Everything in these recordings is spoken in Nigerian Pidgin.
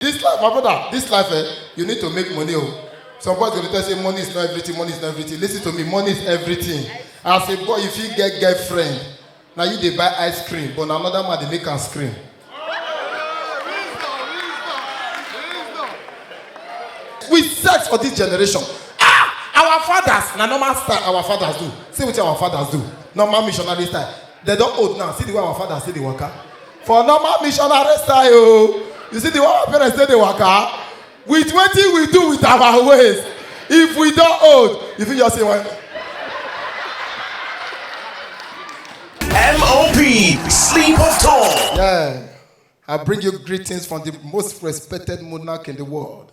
This life, my brother, this life, eh, you need to make money. Oh. Some boys go dey tell say money is not everything, money is not everything. Listen to me, money is everything. As a boy, if you get girlfriend, now you dey buy ice cream, but na another man dey make am scream. We sex for this generation. Ah, our fathers, na normal style our fathers do. See wetin our fathers do. Normal missionary style. They don old now. See the way our fathers see the waka. for normal missionary style o you see the one our parents take dey waka with wetin we do with our waist if we don old you fit just say well. MOP, sleep of tongue. Yeah, I bring you greetings from the most respected monarch in the world.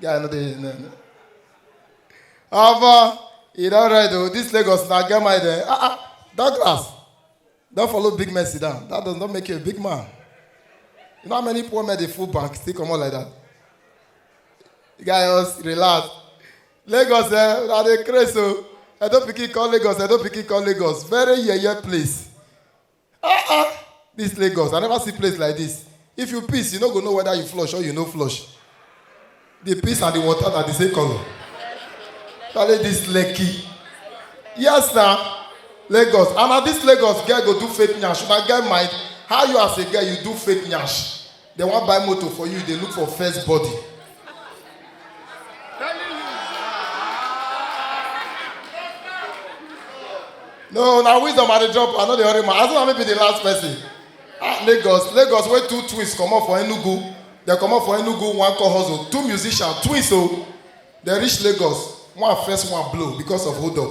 guy no dey no no omo e don red o this lagos na get mind eh ah ah douglas don follow big man sit down that does not make you a big man you know how many poor men dey full bank still comot like that the guy just relax lagos eh una dey craze o edo pikin come lagos edo pikin come lagos very yeye place Ah ah, this Lagos, I never see place like this. If you piss, you no go know whether you flush or you no flush. The piss and the water are the same color. Tale this Lekki. Yes na, Lagos. And na this Lagos girl go do fake nyash. Una get mind, how you as a girl you do fake nyash? They wan buy motor for you, they look for first body. No, na wisdom I dey drop. I no dey hurry man. As long as I no be the last person. Ah, Lagos, Lagos wey two twins comot for Enugu. They comot for Enugu, one call hustle. Two musicians, twins o. They reach Lagos. One first, one blow because of hold up.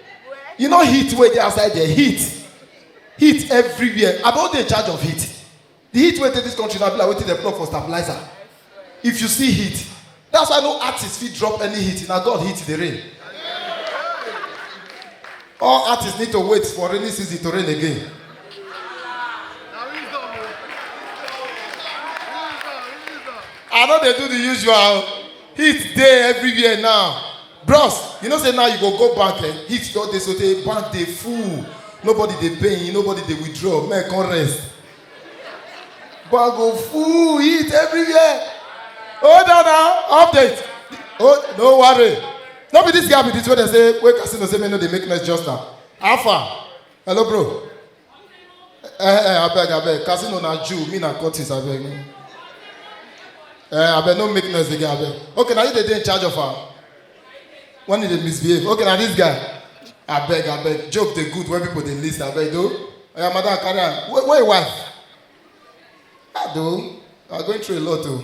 you know heat wey dey outside there heat heat everywhere i don dey in charge of heat the heat wey dey this country na be like wetin dem plug for stabilizer if you see heat that's why no artist fit drop any heat na god heat dey rain all artists need to wait for rainy season to rain again i no dey do the usual heat dey everywhere now bros you know say now you go go bank eh heat don dey sotey bank dey full nobody dey pay nobody dey withdraw men come rest bank go full heat everywhere hold on now update oh no worry no be this guy be this wey dey say wey casino say make no dey make noise just now how far hello bro Eh, eh, abeg, abeg. Casino na Jew, me na Curtis, abeg. no. Eh, abeg, no make noise again, abeg. Okay, now you dey dey in charge of her. When you dey misbehave. Okay, now this guy. Abeg, abeg. Joke dey good when people dey list, abeg, though. Oya, madam, carry am. Where, where your wife? Ah, though. You are going through a lot, though.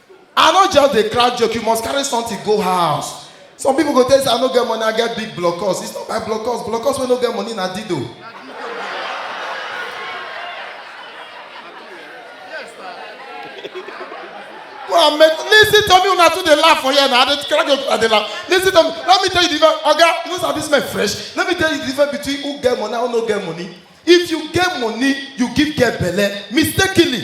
i no just dey crack joke you must carry something go house some people go tell you say i no get money i get big blockers it's not by blockers blockers wey no get money na dido go and make listen to me una too dey laugh for here na i dey crack joke i dey laugh listen to me let me tell you the difference oga you no sabi this man fresh let me tell you the difference between who get money and who no get money if you get money you give girl belle mistakenly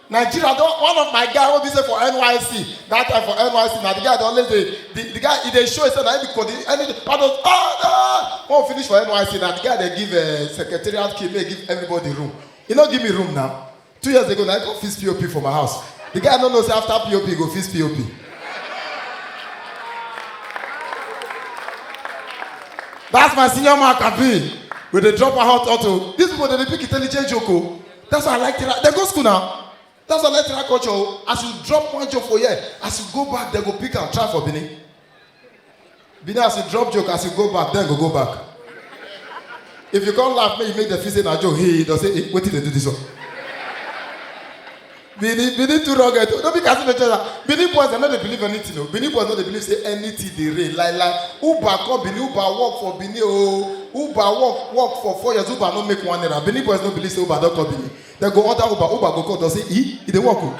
nigeria don one of my guy wey be say for nysc that time for nysc na the guy dey always dey the, the guy e dey show himself na him be coordinator any all those ah ah when we finish for nysc na the guy dey give uh, secretariat key make he give everybody room he no give me room now two years ago na he go fix pop for my house the guy no know say after pop he go fix pop that's my senior man kabi we dey drop our hot auto these people dey dey pick intelligent joke o. That's why I like Tira. They go school now. That's why I like Tira culture. oh. As you drop one joke for here, as you go back, they go pick and try for Bini. Bini, as you drop joke, as you go back, then go go back. If you can't laugh, make you make the feel say na joke. Hey, they say, hey, wait till they do this one. Benin, Benin too rugged. No be casino chesa. Benin boys, dem no dey believe anything o. Benin boys no dey believe say anything dey reign. Like like Uber come Benin, Uber work for Benin o. Uber work work for four years, Uber no make one naira. Benin boys no believe say Uber don come Benin. Dem go order Uber, Uber go call, dem say, e, e dey work o.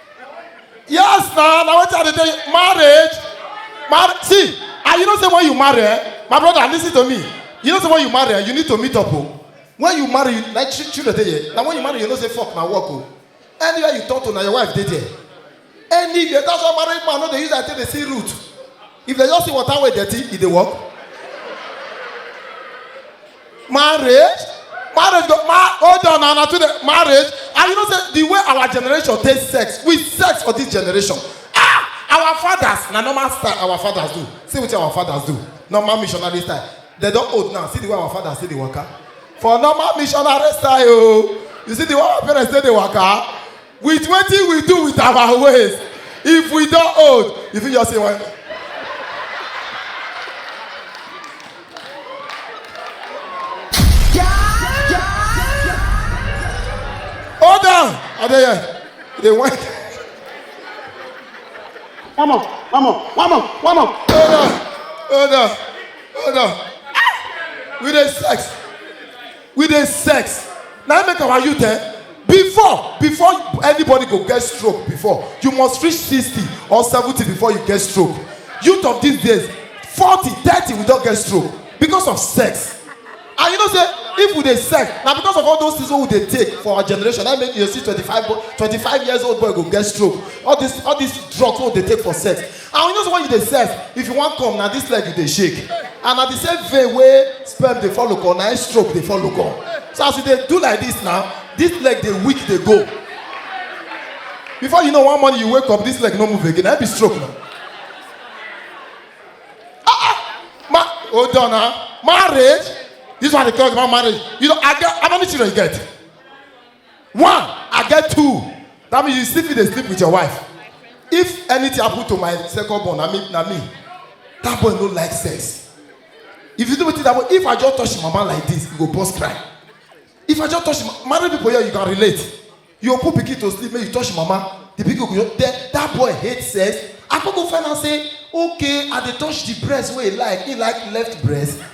yes na na wetin i dey tell you marriage mar see and you know say when you marry eh my brother lis ten to me you know say when you marry eh you need to meet up o when you marry you like chi children dey here na when you marry you know say fok na work o anywhere you talk to na your wife dey there anywhere that's why married man no dey use eye take dey see root if dem just see water wey dirty e dey work marriage marriage go ma hold on na na too dey marriage and you know say the way our generation take sex we sex for this generation ah our fathers na normal style our fathers do see wetin our fathers do normal missionary style dem don old now see the way our fathers take dey waka for normal missionary style o you see the way our parents take dey waka with wetin we do with our ways if we don old you fit just say one. hold on i dey here i dey whine. one more one more one more one more. hold on hold on hold on we dey sex. we dey sex na im make our youth eh before before anybody go get stroke before you must reach sixty or seventy before you get stroke youth of these days forty thirty we don get stroke because of sex and you know say if we dey sex na because of all those things wey we dey take for our generation na im make you dey see twenty-five boy twenty-five years old boy go get stroke all this all this drugs wey we dey take for sex and you know say when you dey sef if you wan come na this leg you dey shake and na the same vein wey sperm dey follow come na im stroke dey follow come so as you dey do like this now this leg dey weak dey go before you know one morning you wake up this leg no move again na im be stroke na ah ah ma hold on na marriage this one dey talk about marriage you know i get how many children you get one i get two that means you still fit dey sleep with your wife if anything happen to my second born na me na me that boy no like sex if you do wetin that boy if i just touch him mama like this he go burst cry if i just touch him ma- married people here you can relate you go put pikin to sleep make you touch him mama the pikin go just then that boy hate sex i come go find out say okay i dey touch the breast wey he like he like left breast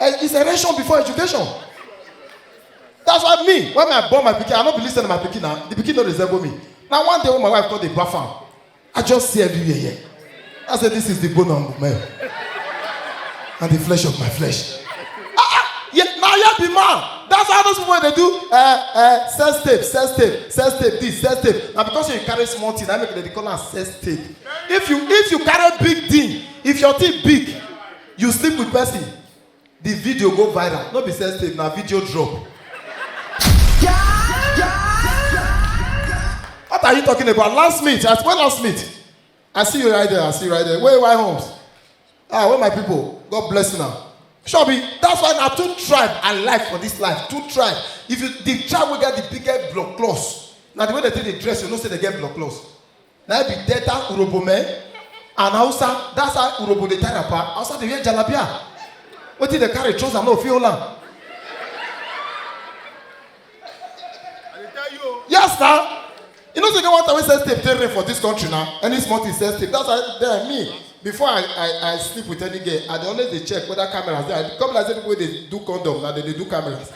Eh, it's a ration before education. That's why me, when I born my pikin, I no be listen to my pikin now. The pikin no resemble me. Now one day when my wife called the baff am, I just see everywhere here. I said, this is the bone of my and the flesh of my flesh. Ah, ah, yeah, now you be man. That's how those people they do uh, uh, sex tape, sex tape, sex tape, this, sex tape. Now because you carry small thing, I make they call am sex tape. If you if you carry big thing, if your thing big, you sleep with person the video go viral no be sex tape na video drop what are you talking about last meet at when last meet i see you right there i see you right there wey why homes ah wey my people god bless una sure be that's why na two tribe i like for this life two tribe if you the tribe wey get the biggest blood cloth na the way they take dey dress you know say they get blood cloth na im be delta urhobo men and hausa that's how urhobo dey tie wrapper hausa dey wear jalabia wetin dey carry trouser no fit hold am yes na you know say e get one time wey sex tape take reign for dis country na any small thing sex tape that's why then me before i i i sleep with any girl i dey always dey check whether cameras dey i come be like say people wey dey do condom na dey dey do cameras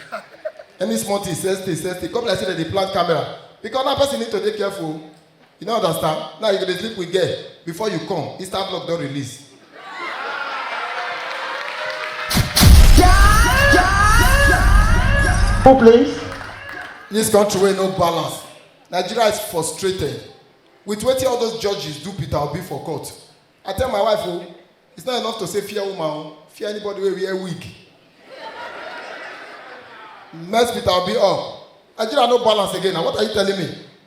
any small thing sex tape sex tape come be like say dem dey plant camera because now person need to dey careful o You don't understand? Now you go dey sleep with girl before you come, Insta block don release. Who please? This country wey no balance. Nigeria is frustrated with wetin all those judges do Peter Obi for court. I tell my wife o, it's not enough to say fear woman o, fear anybody wey wear wig. Mess Peter Obi up. Nigeria no balance again na what are you telling me?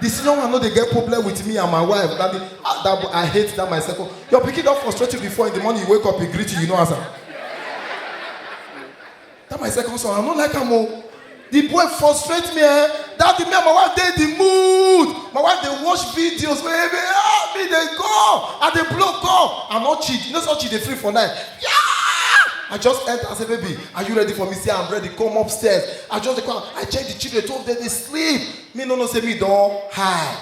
The senior one no dey get problem with me and my wife. That, be, ah, that boy, I hate that my second. Your pikin don frustrate you before in the morning you wake up, he greet you, you no answer. That my second son, I no like am o. The boy frustrate me eh. That the me and my wife dey the mood. My wife dey watch videos wey me ah me dey go. I dey blow call. I no cheat. You know so cheat dey free for night. Yeah! I just enter and say, baby, are you ready for me? Say, I'm ready. Come upstairs. I just dey come. I check the children. Two of them dey sleep. me no know say me don high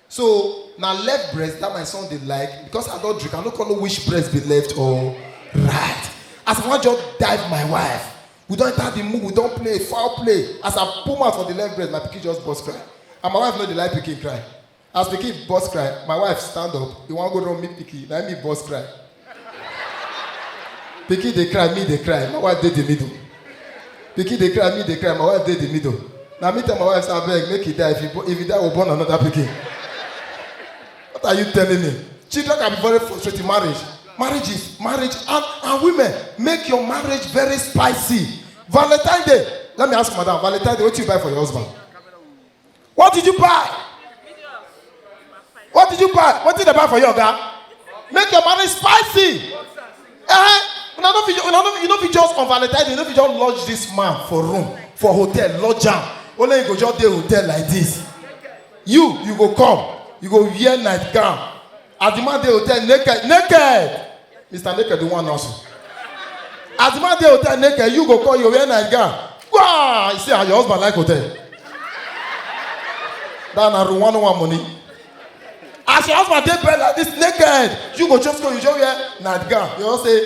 so na left breast that my son dey like because i don drink i no come know which breast be left or right as i wan just dive my wife we don enter the mood we don play foul play as i put mouth for the left breast my pikin just burst cry and my wife no dey like pikin cry As pikin burst cry, my wife stand up, e wan go run meet pikin, na me burst cry. pikin dey cry, me dey cry, my wife dey the middle. Pikin dey cry, me dey cry, my wife dey the middle. Na me tell my wife say abeg make he die, if he, bo- if he die, we born another pikin. What are you telling me? Children can be very frustrating. Marriage, marriage is marriage, and, and women make your marriage very spicy. Valentine Day. Let me ask madam, Valentine Day, what you buy for your husband? What did you buy? What did you buy? What did they buy for you, Oga? Make your marriage spicy. Eh? Una no fit, una no, you no fit just on Valentine's, you no fit just lodge this man for room, for hotel, lodge am. Only you go just dey hotel like this. You, you go come, you go wear nightgown, As the man dey hotel naked, naked. Mr. Naked, the one also. As the man dey hotel naked, you go call your wear night gown. Wow! You see how your husband like hotel. That na room one one money. As your husband dey bed like this naked, you go just go, you just wear night gown. You know say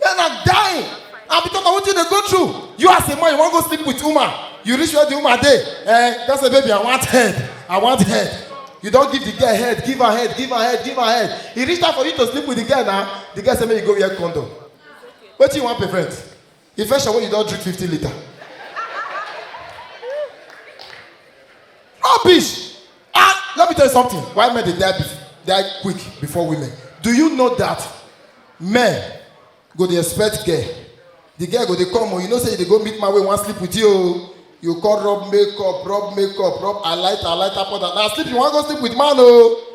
Men are dying. And because of what you dey go through, you as a man, you wan go sleep with woman. You reach where the woman dey. Eh, just say, baby, I want head. I want head. You don give the girl head, give her head, give her head, give her head. E reach time for you to sleep with the girl now. The girl say make you go wear condom. Wetin you wan prevent? Infection wey you don drink fifty litre. Rubbish! Ah, let me tell you something. Why men they die, die quick before women? Do you know that men go the expect girl? The girl go they come, oh, you know say they go meet my way, one sleep with you. Oh. You call rub makeup, rub makeup, rub I light, I light up on that. Now sleep, you want to go sleep with man, oh.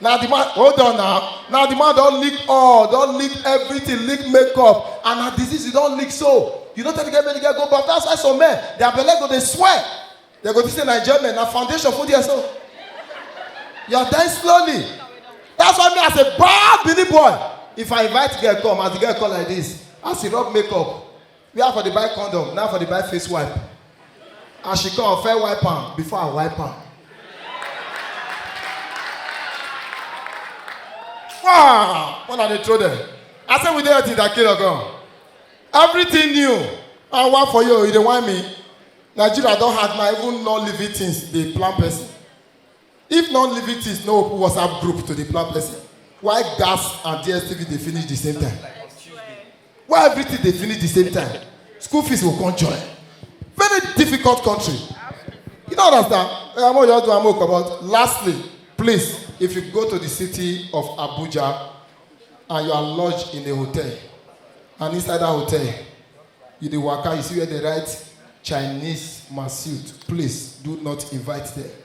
na the man hold on now na the man don lick all don lick everything lick makeup and na disease you don lick so you no tell the girl make the girl go baff that's why some men their belle go dey swell they go think say na enjoyment na foundation full there so you are dying slowly that's why me as a bad bini boy if i invite girl come as the girl come like this as he rub makeup where i for dey buy condom na i for dey buy face wipe as she come fair wipe am before i wipe am wow when i dey throw them i say we dey until that kilo gone everything new and one for you you dey whine me nigeria don hard na even non living things dey plan person If non living things no open WhatsApp group to dey plan person, why gas and DSTV dey finish the same time? Why everything dey finish the same time? School fees go come join. Very difficult country. You don't understand? Eh, Amo Yodu, Amo Kobot. Lastly, please, if you go to the city of Abuja and you are lodged in a hotel, and inside that hotel, you dey waka, you see where they write Chinese Masut, please do not invite them.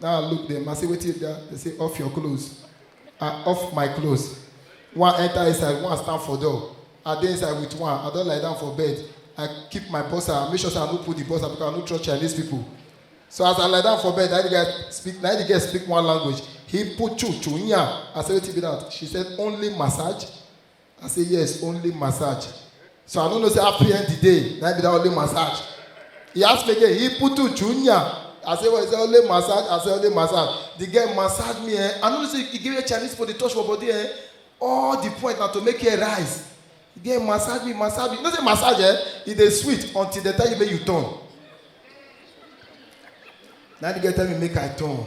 Now I look them, I say, wait till that. They say, off your clothes. I off my clothes. One enter inside, one stand for door. I dey inside with one, I don't lie down for bed. I keep my bossa, I make sure say I no put the bossa because I no trust Chinese people. So as I lie down for bed, na the guy speak, na the girl speak one language. He put chu chu nya. I say, wait till be that. She said, only massage. I say yes, only massage. So I don't know say happy end the day, na be that only massage. He asked me again, he put to junior. I say well, he say only massage, I say only massage. The girl massage me, eh? I know say he give me Chinese for the touch for body, eh? All the point na to make her rise. The girl massage me, massage me. You know say massage, eh? It dey sweet until the time you make you turn. Now the girl tell me make I turn.